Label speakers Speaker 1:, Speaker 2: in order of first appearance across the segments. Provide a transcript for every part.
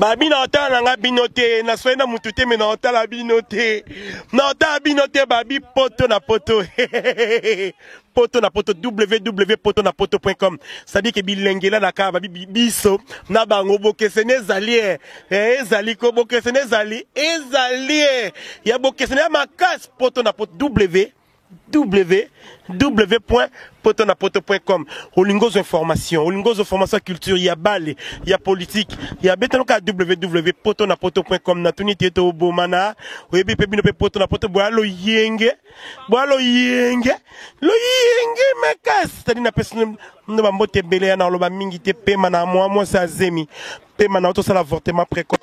Speaker 1: babi na otala na nga bino te naswai na mutu te me na otala bino te na otala bino te babi poto na poto poto na poto www poto na poto com cestadire ke bilengela na kaka babi biso na bango bokeseni ezali e eh, ezali ko bokeseni ezali ezali e ya bokeseni ya makasi poto na poto www www.potonapoto.com olingi ozwa information olingi ozwa formation ya culture ya bale ya politike ya betanoka ya www.potonapoto.com natuni te ete obomana oyebi mpe bino mpe poto na poto boya loyenge boya loyenge loyenge makasi tadi napesi ndo bambote ebele ya na oloba mingi te pema na mwa mwasi azemi pema na otosala avortement précoce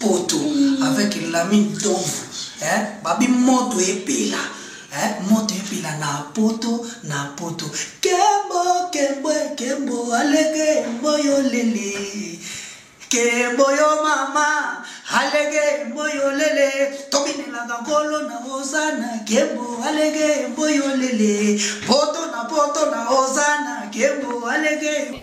Speaker 2: poto avec lami ntomvu eh, babi moto epela eh, moto epela na poto na poto kembo kembo kembo alege mboyo lele kembo yo mama alege mboyo lele tobinelaka nkolo na ozana kembo alege mboyo lele poto na poto na ozana kembo alege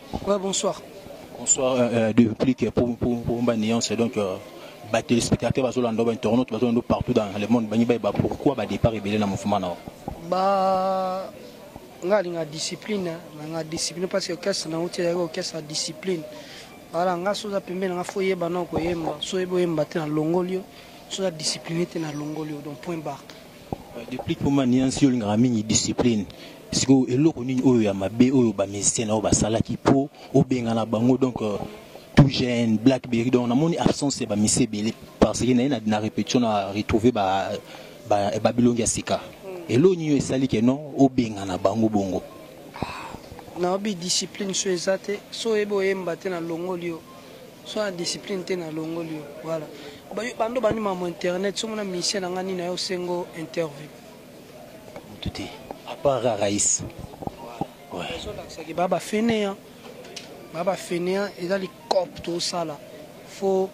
Speaker 3: Ouais, bonsoir.
Speaker 4: Bonsoir, euh, euh
Speaker 3: de plus que pour, pour, pour ma nuance, donc euh, bah, téléspectateurs, bah, Zolando, bah, Toronto, bah, Zolando, partout dans le monde, bah, bah, bah, pourquoi bah, départ rebelle dans le mouvement non Bah,
Speaker 4: nga linga discipline, hein. nga discipline parce que orchestre na outi ya orchestre ya discipline. Voilà, nga soza pembeni nga faut yeba na ko yemba, so yebo yemba te na longolio, soza discipline te na longolio, donc point barre. Deplick
Speaker 3: Poma Niance yo olingaka mingi discipline sikoyo eloko nini oyo ya mabe oyo ba musiciens na yo basalaki mpo obengana bango donc euh, tout jeune blackberry donc namoni absence ya bamisi ebele parce que naye na, na répétition na retrouve ba, ba, ba bilongi ya sika eloko nini oyo esali ke non obengana bango bongo
Speaker 4: naobi discipline so eza te so oyebi oyemba te na longoli yo Sois na discipline te na longoli yo voilà bando bandi mamu internet somo na musicien na nga nini ayo sengo interview mutu
Speaker 3: te à part Raïs
Speaker 4: ouais zo lakisa ke ba ba fainéant ba ba fainéant eza li cop to sala faut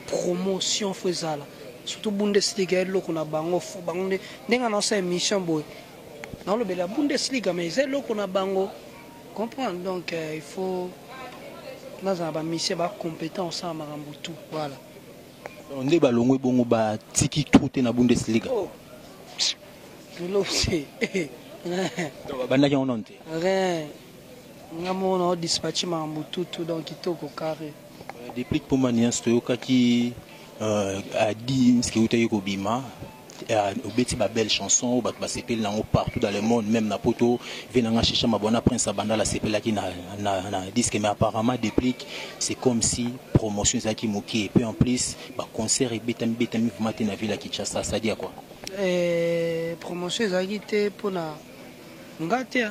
Speaker 4: promotion faut ezala surtout bundesliga eloko na bango fo bango nde ndenge na osa émission boye naolobela bundesliga mais eza eloko na bango comprendre donc euh, il faut nazala ba mission ba competent osala makambo tout voilà Donc, nde
Speaker 3: balongwe bongo batiki trou te na bundesliga oh.
Speaker 4: lolobse Donc, babandaki
Speaker 3: yango nano te rien
Speaker 4: nga moko nao dispatche makambo tout tout donc kitoko carré Deplick Poma
Speaker 3: Nias toyokaki euh, a Dims ki utaki kobima euh, obeti ba belle chanson oyo bato basepeli nango partout dans le monde même na poto ve nanga shisha mabwana prince abandala asepelaki na, na, na disque mais apparemment deplick c'est comme si promotion ezalaki moke et puis en plus baconcert ebetami betami vraiment te na ville ya kinshasa sadi ya kua eh,
Speaker 4: promotion ezalaki te mpona nga te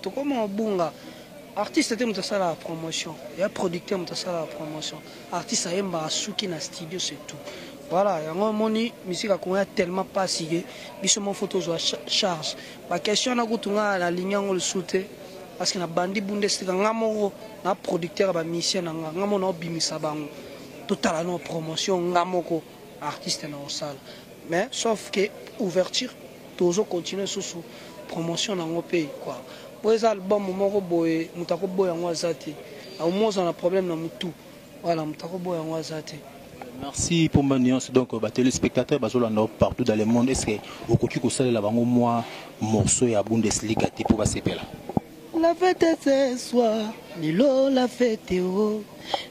Speaker 4: Tokoma obunga artiste te moto asalaka promotion ya producteur moto asalaka promotion artiste ayembaka suki na studio c'est tout voilà yango omoni musique ya congo ya tellement pasi ke biso moko fo tozwa charge ba question wana kutu nga nalingi yango lisusu te parce que na bandi bunda esika nga moko na producteur ya ba musicien na nga nga moko naobimisa bango totala no promotion nga moko artiste na osala mais sauf que ouverture tozo continuer susu promotion na ngo pe quoi po eza album moko boye moto akoboya ngo aza te auma oza na problème na mutu voilà moto akoboya yango aza te merci pour
Speaker 3: ma nuance donc euh, ba téléspectateurs bazolanda yo partout dans le monde est ce que okoki kosalela bango mwa morceau ya bundesliga te mpo basepela La fete
Speaker 4: ce soir, lelo la fete oh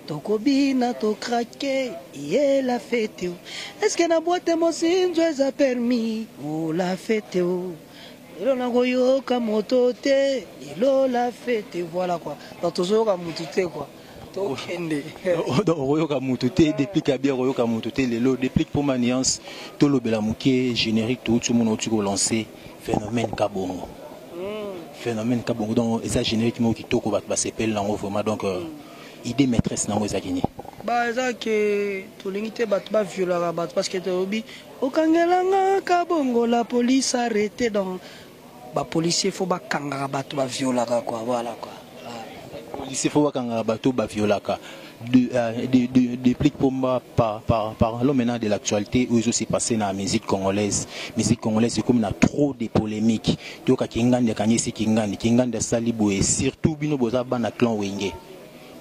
Speaker 4: Tokobina to krake, ye la fete oh Est-ce que na boite mosinzo eza permis oh La fete oh Lelo nakoyoka moto te, lelo la fete Voilà quoi, donc tozoyoka mutu te quoi tokende donc
Speaker 3: okoyoka mutu te deplic ya bien okoyoka mutu te lelo deplic mpo ma nuance tolobela moke générique touti omona outi kolancer phenomène kabongo phénomène kabongo donc eza générique moko kitoko bato basepeli nango vraiment donc euh, idée maîtresse nango ezalaki nini ba eza ke
Speaker 4: tolingi te bato baviolaka bato parce que tolobi okangelanga kabongo la police arrete donc bapolicier fo bakangaka bato baviolaka kua voilà kua policier
Speaker 3: faut bakanga bato ba violaka de, euh, de, de, de Plic Pomba par, par, parlons maintenant de l'actualité où s'est passé dans la musique congolaise. Musique congolaise, c'est comme il y a trop de polémiques. Tu vois, Kingandi, Kanyesi, Kingandi, Kingandi, Salibo et surtout Bino Bozaba, na clan Wenge.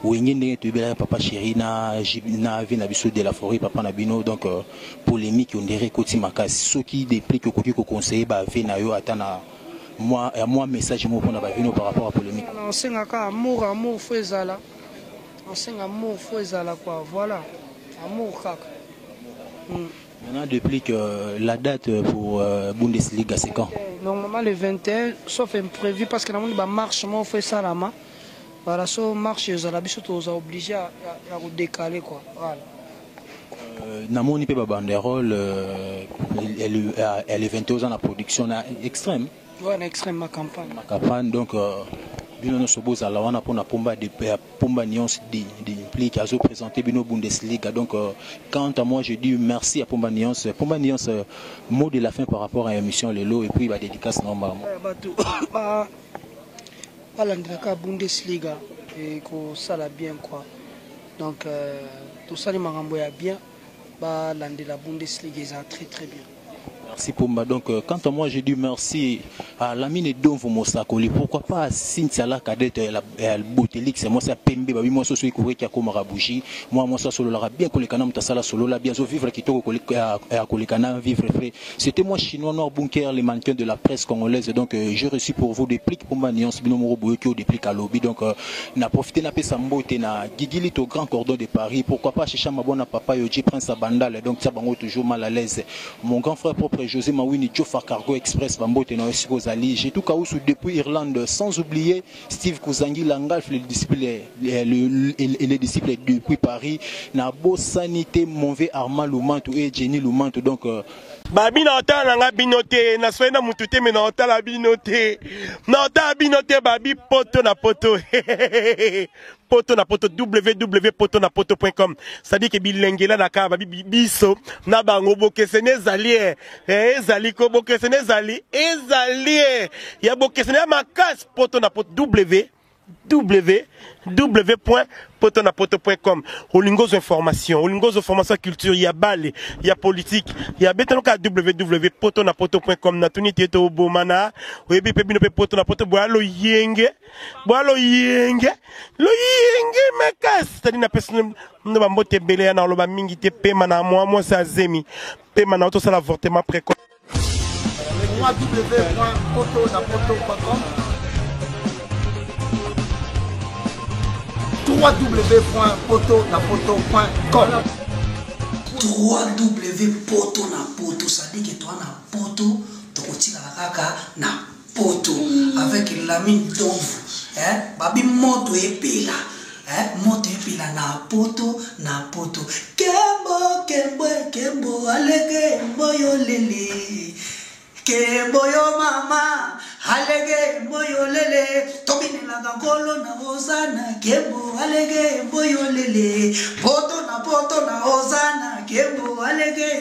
Speaker 3: Wenge ndenge toyebelaka papa chéri na na vie na biso de la forêt papa na bino donc euh, polémique ondire ekoti makasi soki deplique okoki koconseille bave na yo ata na mwa ya mwa message moko na bavino par rapport à polemique na osenga ka amour
Speaker 4: amour fo ezala osenga amour fo ezala quoi voilà amour kaka
Speaker 3: mm. Maintenant, depuis que euh, la date euh, pour euh, Bundesliga, c'est quand Normalement,
Speaker 4: le 21, sauf imprévu, parce que nous avons marche, moi, on fait ça là -bas. Voilà, sauf marche, ils ont obligé à, à, à décaler, quoi. Voilà.
Speaker 3: namoni pe ba banderole ya le 21 oza na production na extrême wana extrême ma
Speaker 4: campagne ma campagne donc
Speaker 3: euh, bino nyonso bozala wana mpona pomba pomba nuance dimplique azo présente bino bundesliga donc euh, quant à moi je dis merci à pomba nuance pomba nuance euh, mot de la fin par rapport à émission lelo et puis badédicace na mbamo bato
Speaker 4: balandelaka bundesliga ekosala bien quoi Donc euh, tosali makambo ya bien ba landela Bundesliga eza très très bien. Merci Pumba.
Speaker 3: Donc, euh, quant à moi, je dis merci à Lamine et Donvo Mosakoli. Pourquoi pas à Cynthia la cadette et à Botelik, c'est moi, c'est à Pembe, bah oui, moi, soso ikore qui a comme rabouchi. Moi, moi, soso solo la bien que les canams ta sala solo la bien, so vivre qui toko à kolekana, vivre frais. C'etait moi chinois noir bunker le mannequin de la presse congolaise donc euh, j'ai reçu pour vous des plics pomba nuance bino moko boyoki au déplic à lobby donc euh, na profiter na pesa mbote na Gigilito grand cordon de Paris pourquoi pas Chicha Mabona papa Yoji prince à Bandal donc tia bango toujours mal à l'aise mon grand frère propre José Mawini Jofa Cargo Express bambote na yo siko ozali j'ai tout kausu depuis Irlande sans oublier Steve Kuzangi Langalf, le disciple, le, le, et le disciple depuis Paris. Na bosani te Monve Armand Lumantu et Jenny Lumantu. Donc, euh, babi na
Speaker 1: otala na nga bino te na soyi na mutu te me na otala bino te na otala bino te babi poto na poto poto na poto www.potonapoto.com c'est-à-dire que bilengela na kaba biso na bango bokeseni ezali eh, eh, ezali ko bokeseni ezali ezali eh. ya bokeseni ya makasi poto na poto w www.potonapoto.com olingozo information olingozo formation culture ya bale ya politique ya betanoka www.potonapoto.com natuni te tobomana oyebi mpe bino mpe poto na poto boya loyenge bwa loyenge loyenge makasi tadi napesi na bambote ebele ya na oloba mingi te pema na mwa mwasi azemi pema na yo tosala avortement précoce www.potonapoto.com
Speaker 5: www.potonapoto
Speaker 2: sadiki toa na poto tokotikala kaka na poto avec lami ntomvu eh, babi moto epela eh, moto epela na poto na poto kembo kembo kembo alege mboyo lele kembo yo mama alege mboyo lele tobinelaka nkolo na ozana kembo alege mboyo lele poto na poto na ozana kembo alege